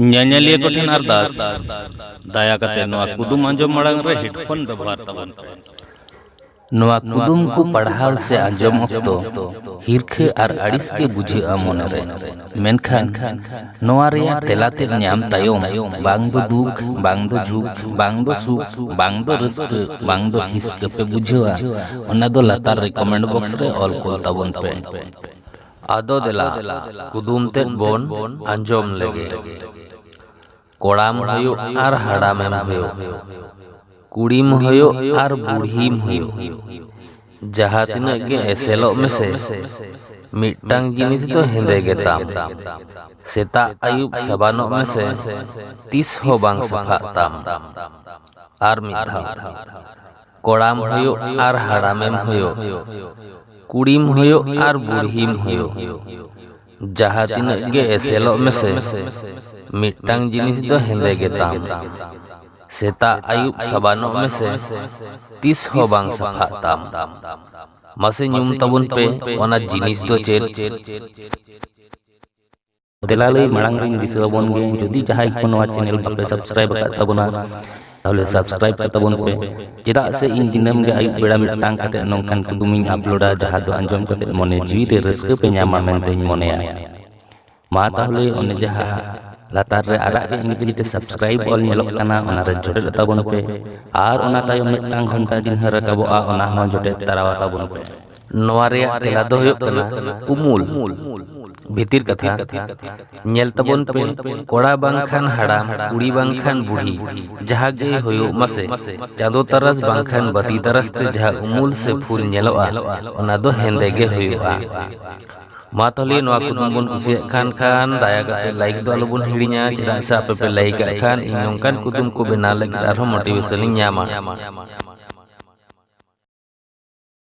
ᱧᱮᱧᱮᱞᱤᱭᱟᱹ ᱠᱚ ᱴᱷᱮᱱ ᱟᱨᱫᱟᱥ ᱫᱟᱭᱟ ᱠᱟᱛᱮ ᱱᱚᱣᱟ ᱠᱩᱫᱩᱢ ᱟᱸᱡᱚᱢ ᱢᱟᱲᱟᱝ ᱨᱮ ᱦᱮᱰᱯᱷᱳᱱ ᱵᱮᱵᱚᱦᱟᱨ ᱛᱟᱵᱚᱱ ᱯᱮ ᱱᱚᱣᱟ ᱠᱩᱫᱩᱢ ᱠᱚ ᱯᱟᱲᱦᱟᱣ ᱥᱮ ᱟᱸᱡᱚᱢ ᱚᱠᱛᱚ ᱦᱤᱨᱠᱷᱟᱹ ᱟᱨ ᱟᱹᱲᱤᱥ ᱜᱮ ᱵᱩᱡᱷᱟᱹᱜᱼᱟ ᱢᱚᱱᱮᱨᱮ ᱢᱮᱱᱠᱷᱟᱱ ᱱᱚᱣᱟ ᱨᱮᱭᱟᱜ ᱛᱮᱞᱟ ᱛᱮ ᱧᱟᱢ ᱛᱟᱭᱚᱢ ᱵᱟᱝ ᱫᱚ ᱫᱩᱠ ᱵᱟᱝ ᱫᱚ ᱡᱷᱩᱠ ᱵᱟᱝ ᱫᱚ ᱥᱩᱠ ᱵᱟᱝ ᱫᱚ ᱨᱟᱹᱥᱠᱟᱹ ᱵᱟᱝ ᱫᱚ ᱦᱤᱥᱠᱟᱹ ᱯᱮ ᱵᱩᱡᱷᱟᱹᱣᱟ ᱚᱱᱟ ᱫᱚ ᱞᱟᱛᱟᱨ ᱨᱮ ᱠᱚᱢᱮᱱᱴ ᱵᱚᱠᱥ ᱨᱮ ᱚᱞ ᱠᱚᱞ ᱛᱟᱵᱚᱱ ᱯᱮ ᱟᱫᱚ ᱫᱮᱞᱟ ᱠᱩᱫᱩᱢ ᱛᱮᱫ ᱵᱚᱱ ᱟᱸᱡᱚᱢ ᱞᱮᱜᱮ᱾ ᱠᱚᱲᱟᱢ ᱦᱩᱭᱩᱜ ᱟᱨ ᱦᱟᱲᱟᱢᱮᱢ ᱦᱩᱭᱩᱜ, ᱠᱩᱲᱤᱢ ᱦᱩᱭᱩᱜ ᱟᱨ ᱵᱩᱲᱦᱤᱢ ᱦᱩᱭᱩᱜ, ᱡᱟᱦᱟᱸ ᱛᱤᱱᱟᱹᱜ ᱜᱮ ᱮᱥᱮᱞᱚᱜ ᱢᱮᱥᱮ, ᱢᱤᱫᱴᱟᱝ ᱡᱤᱱᱤᱥ ᱫᱚ ᱦᱮᱸᱫᱮ ᱜᱮ ᱛᱟᱢ᱾ ᱥᱮᱛᱟᱜ ᱟᱹᱭᱩᱵ ᱥᱟᱵᱟᱱᱚᱜ ᱢᱮᱥᱮ, ᱛᱤᱥ ᱦᱚᱸ ᱵᱟᱝ ᱥᱟᱯᱷᱟᱜ ᱛᱟᱢ᱾ ᱟᱨ ᱢᱤᱫ ᱫᱷᱟᱣ᱾ ᱠᱚᱲᱟᱢ ᱦᱩᱭᱩᱜ ᱟᱨ ᱦᱟᱲᱟᱢᱮᱢ ᱦᱩᱭᱩᱜ, ᱠᱩᱲᱤᱢ ᱦᱩᱭᱩᱜ ᱟᱨ ᱵᱩᱲᱦᱤᱢ ᱦᱩᱭᱩᱜ, ᱡᱟᱦᱟᱸ ᱛᱤᱱᱟᱹᱜ ᱜᱮ ᱮᱥᱮᱞᱚᱜ ᱢᱮᱥᱮ, ᱢᱤᱫᱴᱟᱝ ᱡᱤᱱᱤᱥ ᱫᱚ ᱦᱮᱸᱫᱮ ᱜᱮᱛᱟᱢ᱾ ᱥᱮᱛᱟᱜ ᱟᱹᱭᱩᱵ ᱥᱟᱵᱟᱱᱚᱜ ᱢᱮᱥᱮ, ᱛᱤᱥ ᱦᱚᱸ ᱵᱟᱝ ᱥᱟᱯᱷᱟᱜ ᱛᱟᱢ᱾ ᱢᱟᱥᱮ ᱧᱩᱢ ᱛᱟᱵᱚᱱ ᱯᱮ ᱚᱱᱟ ᱡᱤᱱᱤᱥ ᱫᱚ ᱪᱮᱫ? ᱫᱮᱞᱟᱞᱟᱹᱭ ᱢᱟᱲᱟᱝ ᱨᱤᱧ ᱫᱤᱥᱟᱹ ᱟᱵᱚᱱ ᱜᱮ ᱡᱩᱫᱤ ᱡᱟᱦᱟᱸᱭ ᱠᱚ ᱱᱚᱣᱟ ᱪᱮᱱᱮᱞ ᱵᱟᱯᱮ ᱥᱟᱵᱥᱠᱨᱟᱭᱤᱵ ᱟᱠᱟᱫ ᱛᱟᱵᱚᱱᱟ ᱛᱟᱦᱚᱞᱮ ᱥᱟᱵᱥᱠᱨᱟᱭᱤᱵ ᱠᱟᱜ ᱛᱟᱵᱚᱱ ᱯᱮ ᱪᱮᱫᱟᱜ ᱥᱮ ᱤᱧ ᱫᱤᱱᱟᱹᱢ ᱜᱮ ᱟᱹᱭᱩᱵ ᱵᱮᱲᱟ ᱢᱤᱫᱴᱟᱝ ᱠᱟᱛᱮ ᱱᱚᱝᱠᱟᱱ ᱠᱩᱫᱩᱢᱤᱧ ᱟᱯᱞᱳᱰᱟ ᱡᱟᱦᱟᱸ ᱫᱚ ᱟᱸᱡᱚᱢ ᱠᱟᱛᱮ ᱢᱚᱱᱮ ᱡᱤᱣᱤ ᱨᱮ ᱨᱟᱹᱥᱠᱟᱹ ᱯᱮ ᱧᱟᱢᱟ ᱢᱮᱱᱛᱮᱧ ᱢᱚᱱᱮᱭᱟ ᱢᱟ ᱛᱟᱦᱚᱞᱮ ᱚᱱᱮ ᱡᱟᱦᱟᱸ ᱞᱟᱛᱟᱨ ᱨᱮ ᱟᱨᱟᱜ ᱜᱮ ᱤᱝᱨᱮᱡᱤ ᱛᱮ ᱥᱟᱵᱥᱠᱨᱟᱭᱤᱵ ᱚᱞ ᱧᱮᱞᱚᱜ ᱠᱟᱱᱟ ᱚᱱᱟ ᱨᱮ ᱡᱚᱴᱮᱫ ᱛᱟᱵᱚᱱ ᱯᱮ ᱟᱨ ᱚᱱᱟ ᱛᱟᱭᱚᱢ ᱢᱤᱫᱴᱟᱝ ᱜᱷᱚᱱᱴᱟ ᱡᱤᱱᱦᱟᱹ ᱨᱟᱠᱟᱵᱚᱜᱼᱟ ᱚᱱᱟ ᱦᱚᱸ ᱡᱚᱴᱮᱫ ᱛᱟᱨᱟᱣᱟ ᱛᱟᱵᱚᱱ ᱯᱮ ᱱᱚᱣᱟ ᱨᱮᱭᱟᱜ ᱛᱮᱞᱟ ᱫᱚ ᱦᱩᱭᱩᱜ ᱠᱟᱱᱟ ᱩᱢᱩᱞ ᱵᱷᱤᱛᱤᱨ ᱠᱟᱛᱷᱟ ᱧᱮᱞ ᱛᱟᱵᱚᱱ ᱯᱮ ᱠᱚᱲᱟ ᱵᱟᱝᱠᱷᱟᱱ ᱦᱟᱲᱟᱢ ᱠᱩᱲᱤ ᱵᱟᱝᱠᱷᱟᱱ ᱵᱩᱲᱦᱤ ᱡᱟᱦᱟᱸ ᱜᱮ ᱦᱩᱭᱩᱜ ᱢᱟᱥᱮ ᱪᱟᱸᱫᱚ ᱛᱟᱨᱟᱥ ᱵᱟᱝᱠᱷᱟᱱ ᱵᱟᱹᱛᱤ ᱛᱟᱨᱟᱥ ᱛᱮ ᱡᱟᱦᱟᱸ ᱩᱢᱩᱞ ᱥᱮ ᱯᱷᱩᱞ ᱧᱮᱞᱚᱜᱼᱟ ᱚᱱᱟ ᱫᱚ ᱦᱮᱸᱫᱮ ᱜᱮ ᱦᱩᱭᱩᱜᱼᱟ ᱢᱟ ᱛᱟᱦᱚᱞᱮ ᱱᱚᱣᱟ ᱠᱩᱫᱩᱢ ᱵᱚᱱ ᱠᱩᱥᱤᱭᱟᱜ ᱠᱷᱟᱱ ᱠᱷᱟᱱ ᱫᱟᱭᱟ ᱠᱟᱛᱮ ᱞᱟᱭᱤᱠ ᱫᱚ ᱟᱞᱚ ᱵᱚᱱ ᱦᱤᱲᱤᱧᱟ ᱪᱮᱫᱟᱜ ᱥᱮ ᱟᱯᱮ ᱯᱮ ᱞᱟᱭᱤᱠ ᱟᱜ ᱠᱷᱟᱱ ᱤᱧ ᱱᱚᱝᱠᱟᱱ ᱠᱩᱫᱩᱢ ᱠᱚ ᱵᱮᱱᱟᱣ ᱞᱟᱹᱜᱤᱫ ᱟᱨᱦᱚᱸ ᱢᱳᱴᱤᱵᱷᱮᱥᱚᱱ ᱤᱧ ᱧᱟᱢᱟ